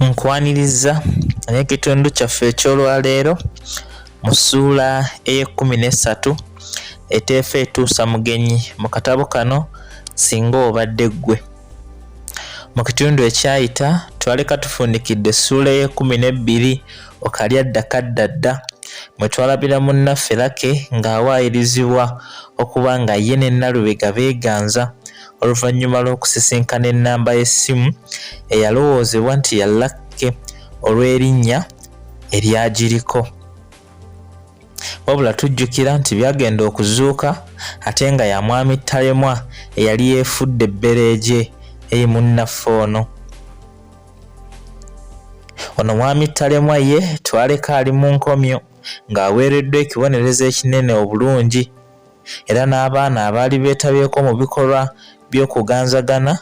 nkwaniriza n'ekitundu kyaffe eky'olwaleero mu ssuula ey'ekkumi n'essatu eteefa etuusa mugenyi mu katabo kano singa obadde ggwe mu kitundu ekyayita twaleka tufundikidde essuula ey'ekkumi n'ebbiri okalya dda kadda dda mwe twalabira munnaffe lake ng'awaayirizibwa okuba nga ye ne nalubega beeganza oluvannyuma lw'okusisinkana ennamba y'essimu eyalowoozebwa nti ya lakke olw'erinnya eryagiriko wabula tujjukira nti byagenda okuzuuka ate nga ya mwami talemwa eyali yeefudde ebbereegye eri munnaffe ono Ono mwami Talemwa ye twaleka ali mu nkomyo ng'aweereddwa ekibonerezo ekinene obulungi era n'abaana abaali beetabyeko mu bikolwa by'okuganzagana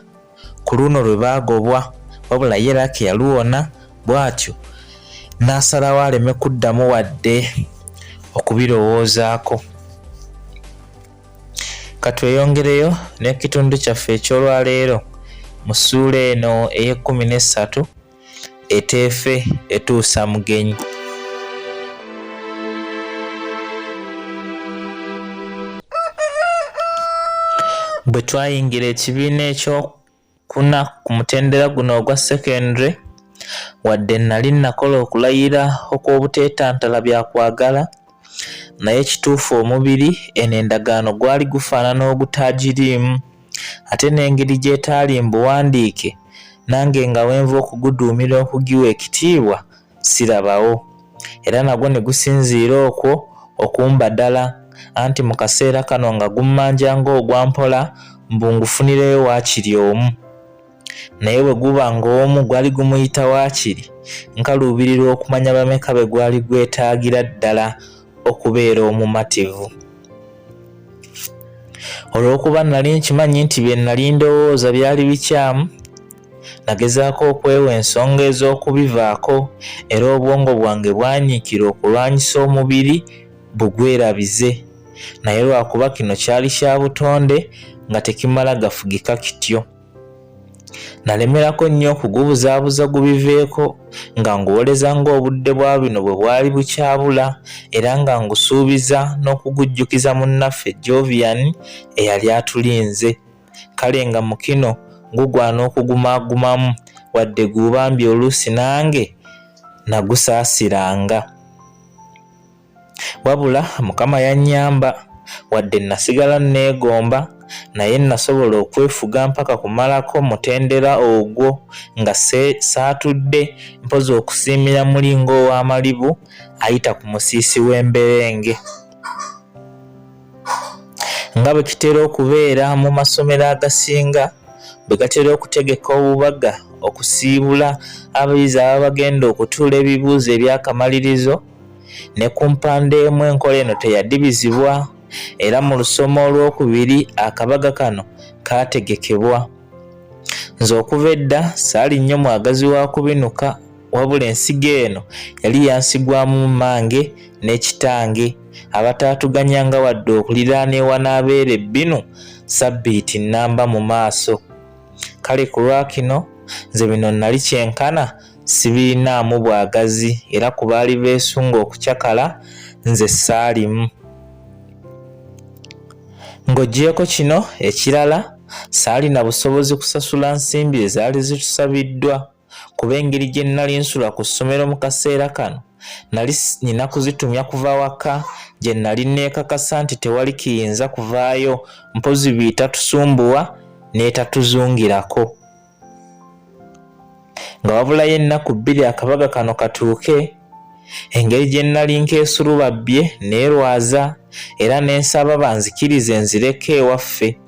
ku luno lwe baagobwa wabula ye Laki yaluwona bw'atyo n'asalawo aleme kuddamu wadde okubirowoozaako. Katweyongereyo n'ekitundu kyaffe eky'olwaleero mu ssuula eno ey'ekkumi n'essatu eteefe etuusa mugenyi. Bwe twayingira ekibiina ekyo kuna ku mutendera guno ogwa secondary wadde nali nakola okulayira okw'obuteetantala bya kwagala naye ekituufu omubiri eno endagaano gwali gufaanana ogutaagiriimu ate n'engeri gy'etaali mbuwandiike nange nga wenva okuguduumira okugiwa ekitiibwa sirabawo era nagwo ne gusinziira okwo okumbadala anti mu kaseera kano nga gummanja ng'ogwa mpola mbu ngufunireyo waakiri omu naye bwe guba ng'omu gwali gumuyita waakiri nkaluubirirwa okumanya bameka be gwali gwetaagira ddala okubeera omumativu olw'okuba nnali nkimanyi nti bye nnali ndowooza byali bikyamu Nagezaako okwewa ensonga ez'okubivaako era obwongo bwange bwanyiikira okulwanyisa omubiri bugwerabize. Naye lwakuba kino kyali kya butonde nga tekimala gafugika kityo. Nalemerako nnyo okugubuzaabuza gubiveeko nga nguwoleza ng'obudde bwa bino bwe bwali bukyabula era nga ngusuubiza n'okugujjukiza munnaffe Jovian eyali atulinze. kale nga mukino gugwana okugumagumamu wadde guubambi oluusi nange nagusaasiranga wabula mukama yannyamba wadde nasigala nneegomba naye nasobola okwefuga mpaka kumalako mutendera ogwo nga saatudde mpozi okusiimira muli ng'ow'amalibu ayita ku musiisi w'emberenge Nga bwe kitera okubeera mu masomero agasinga, bwe gatera okutegeka obubaga okusiibula abayizi ababa bagenda okutuula ebibuuzo eby'akamalirizo, ne ku mpande emu enkola eno teyadibizibwa era mu lusoma olw'okubiri akabaga kano kaategekebwa. Nze okuva edda saali nnyo mwagazi wa kubinuka. wabula ensigo eno yali yansigwamu mmange n'ekitange abataatuganyanga wadde okuliraana ewanaabeera ebbinu sabbiiti nnamba mu maaso kale ku lwakino nze bino nnali kyenkana sibirinaamu bwagazi era ku baali beesunga okucakala nze saalimu ng'ogyeko kino ekirala saalina busobozi kusasula nsimbi ezaali zitusabiddwa kuba engeri gye nnali nsula ku ssomero mu kaseera kano nali nina kuzitumya kuva waka gye nali neekakasa nti tewali kiyinza kuvaayo mpozi biitatusumbuwa n'etatuzungirako nga wabulayo ennaku bbiri akabaga kano katuuke engeri gye nnali nkeesulubabbye neerwaza era ne nsaba banzikirize nzireko ewaffe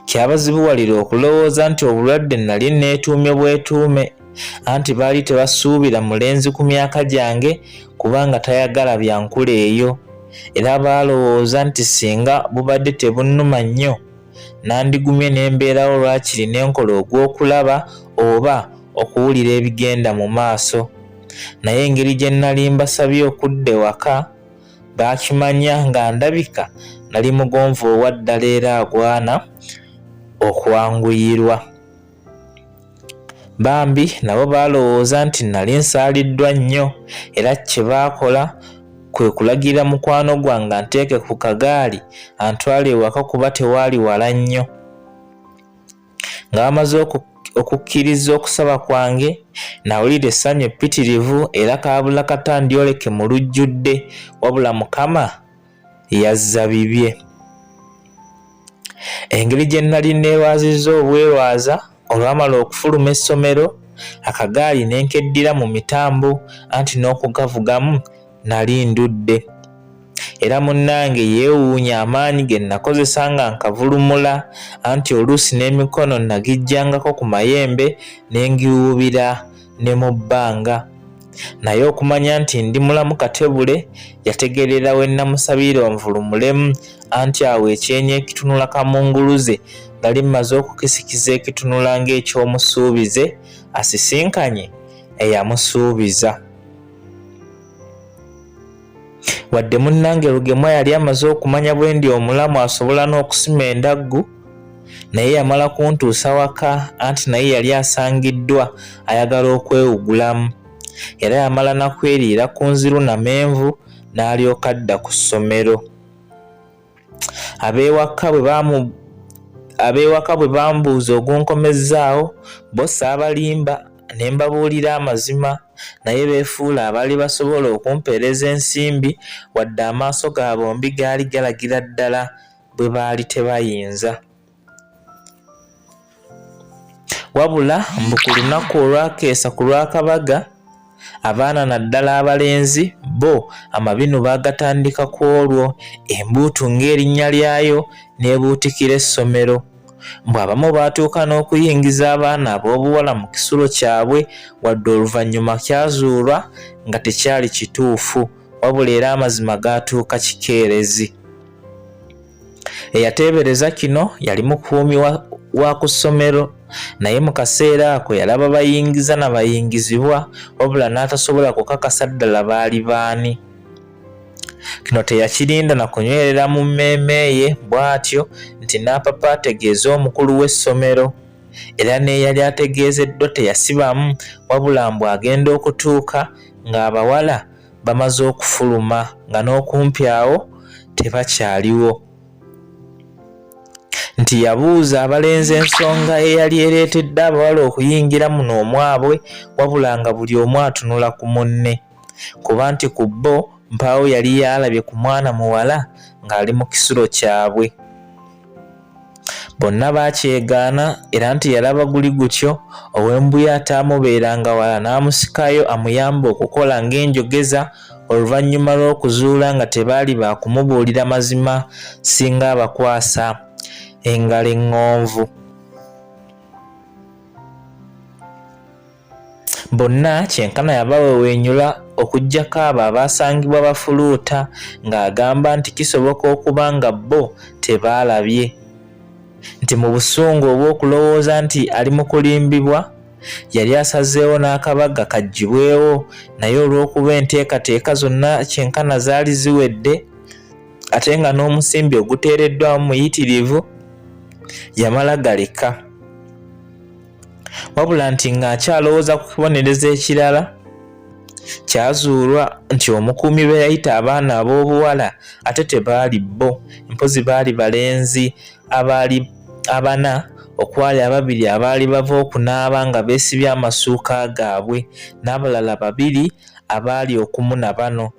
kyabazibuwalira okulowooza nti obulwadde nnali nneetuumye bwetuume anti baali tebasuubira mulenzi ku myaka gyange kubanga tayagala byankula eyo era baalowooza nti singa bubadde tebunnuma nnyo nandigumye ne mbeerawo lwakiri ne nkola ogw'okulaba oba okuwulira ebigenda mu maaso naye engeri gye nnali mbasabye okudda ewaka baakimanya nga ndabika nali mugonvu owa ddala era agwana okwanguyirwa bambi nabo baalowooza nti nali nsaaliddwa nnyo era kye baakola kwe kulagira mukwano gwange anteeke ku kagaali antwale ewaka kuba tewaali wala nnyo nga bamaze okukkiriza okusaba kwange nawulira essanyu eppitirivu era kaabula kata ndyoleke mu lujjudde wabula mukama yazza bibye engeri gye nnali neerwazizza obwerwaza olwamala okufuluma essomero akagaali ne nkeddira mu mitambo anti n'okugavugamu nali ndudde era munnange yeewuunya amaanyi ge nnakozesa nga nkavulumula anti oluusi n'emikono nnagijjangako ku mayembe ne ngiwuubira ne mu bbanga naye okumanya nti ndi mulamu katebule yategeerera we nnamusabira onvulumulemu anti awo ekyenyi ekitunula kamunguluze nali mmaze okukisikiza ekitunula ng'eky'omusuubize asisinkanye eyamusuubiza wadde munnange lugemwa yali amaze okumanya bwe ndi omulamu asobola n'okusima endaggu naye yamala kuntuusa waka anti naye yali asangiddwa ayagala okwewugulamu era yamala nakweriira ku nziru namenvu n'alyoka adda ku ssomero abeewaka bwe baamu abeewaka bwe bambuuza ogunkomezzaawo bo saabalimba ne mbabuulira amazima naye beefuula abaali basobola okumpeereza ensimbi wadde amaaso ga bombi gaali galagira ddala bwe baali tebayinza wabula mbu ku lunaku olwakeesa ku lwakabaga abaana naddala abalenzi bo amabinu baagatandika ku olwo embuutu ng'erinnya lyayo n'ebuutikira essomero mbu abamu baatuuka n'okuyingiza abaana ab'obuwala mu kisulo kyabwe wadde oluvannyuma kyazuulwa nga tekyali kituufu wabula era amazima gaatuuka kikeerezi Eyateebereza kino yali mukuumi wa ku ssomero naye mu kaseera ako yalaba bayingiza na bayingizibwa wabula n'atasobola kukakasa ddala baali baani. Kino teyakirinda na kunywerera mu mmeeme ye bw'atyo nti n'apapa ategeeze omukulu w'essomero era n'eyali ategeezeddwa teyasibamu wabula mbu agenda okutuuka ng'abawala bamaze okufuluma nga n'okumpi awo tebakyaliwo nti yabuuza abalenzi ensonga eyali ereetedde abawala okuyingira muno omwabwe wabula nga buli omu atunula ku munne kuba nti ku bbo mpaawo yali yaalabye ku mwana muwala ng'ali mu kisulo kyabwe bonna baakyegaana era nti yalaba guli gutyo ow'embuya ataamubeeranga wala n'amusikayo amuyambe okukola ng'enjogeza oluvannyuma lw'okuzuula nga tebaali ba kumubuulira mazima singa abakwasa engalo eŋŋonvu Bonna kyenkana yabaweweenyula okuggyako abo abaasangibwa bafuluuta ng'agamba nti kisoboka okuba nga bo tebaalabye nti mu busungu obw'okulowooza nti ali mu kulimbibwa yali asazeewo n'akabaga kaggyibwewo naye olw'okuba enteekateeka zonna kyenkana zaali ziwedde ate nga n'omusimbi oguteereddwamu muyitirivu yamala galeka. wabula nti ng'akyalowooza ku kibonerezo ekirala kyazuulwa nti omukuumi be yayita abaana ab'obuwala ate tebaali bo mpozi baali balenzi abaali abana okwali ababiri abaali bava okunaaba nga beesibye amasuuka gaabwe n'abalala babiri abaali okumu na bano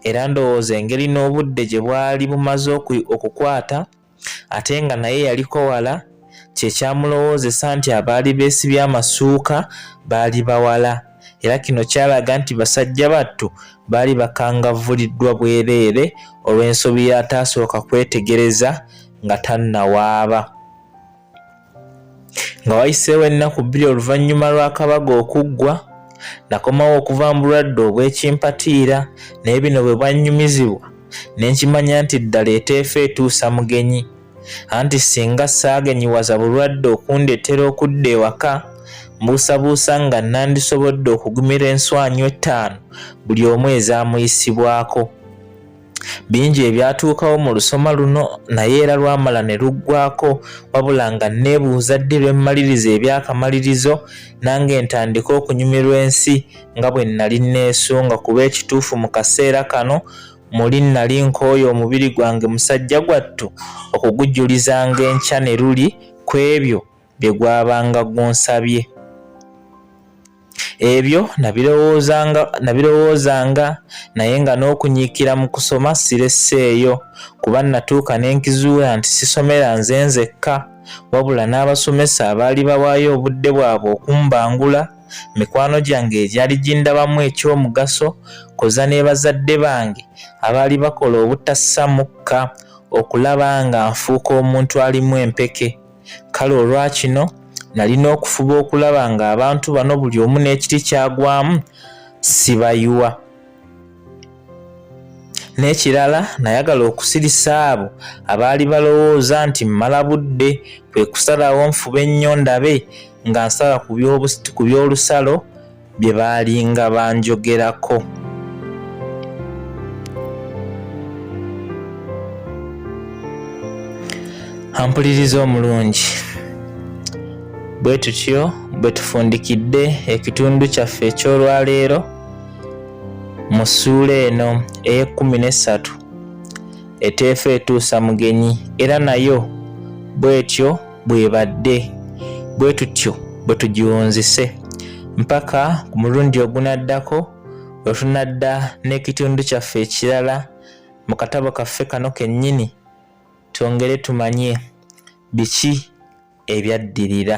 era ndowooza engeri n'obudde gye bwali bumaze okukwata ate nga naye yaliko wala kye kyamulowoozesa nti abaali beesibye amasuuka baali bawala era kino kyalaga nti basajja battu baali bakangavvuliddwa bwereere olw'ensobi y'ataasooka kwetegereza nga tannawaaba nga wayiseewo ennaku bbiri oluvannyuma lw'akabaga okuggwa nakomawo okuva mu bulwadde obw'ekimpatiira naye bino bwe bwannyumizibwa ne nkimanya nti ddala eteefa etuusa mugenyi anti singa saagenyiwaza bulwadde okundeetera okudda ewaka mbuusabuusa nga nandisobodde okugumira enswanyu ettaano buli omu ezaamuyisibwako Bingi ebyatuukawo mu lusoma luno naye era lwamala ne luggwako wabula nga nneebuuza ddi lwe mmaliriza ebyakamalirizo nange ntandika okunyumirwa ensi nga bwe nnali nneesunga kuba ekituufu mu kaseera kano muli nnali nkooye omubiri gwange musajja gwattu okugujulizanga enkya ne luli ku ebyo bye gwabanga gunsabye ebyo nabirowoozanga naye nga n'okunyiikira mu kusoma siresseeyo kuba natuuka ne nkizuula nti sisomera nze nzekka wabula n'abasomesa abaali bawaayo obudde bwabwe okumbangula mikwano gyange egyali gindabamu eky'omugaso koza ne bazadde bange abaali bakola obutassa mukka okulaba nga nfuuka omuntu alimu empeke kale olwakino nalina okufuba okulaba nga abantu bano buli omu n'ekiti kyagwamu sibayiwa n'ekirala nayagala okusirisa abo abaali balowooza nti mmala budde kwe kusalawo nfube ennyo ndabe nga nsala ku by'olusalo bye baalinga banjogerako ampuliriza omulungi bwe tutyo bwe tufundikidde ekitundu kyaffe eky'olwaleero mu ssuula eno ey'ekkumi n'essatu eteefa etuusa mugenyi era nayo bw'etyo bwebadde bwe tutyo bwe tugiwunzise mpaka ku mulundi ogunaddako lwe tunadda n'ekitundu kyaffe ekirala mu katabo kaffe kano kennyini twongere tumanye biki ebyaddirira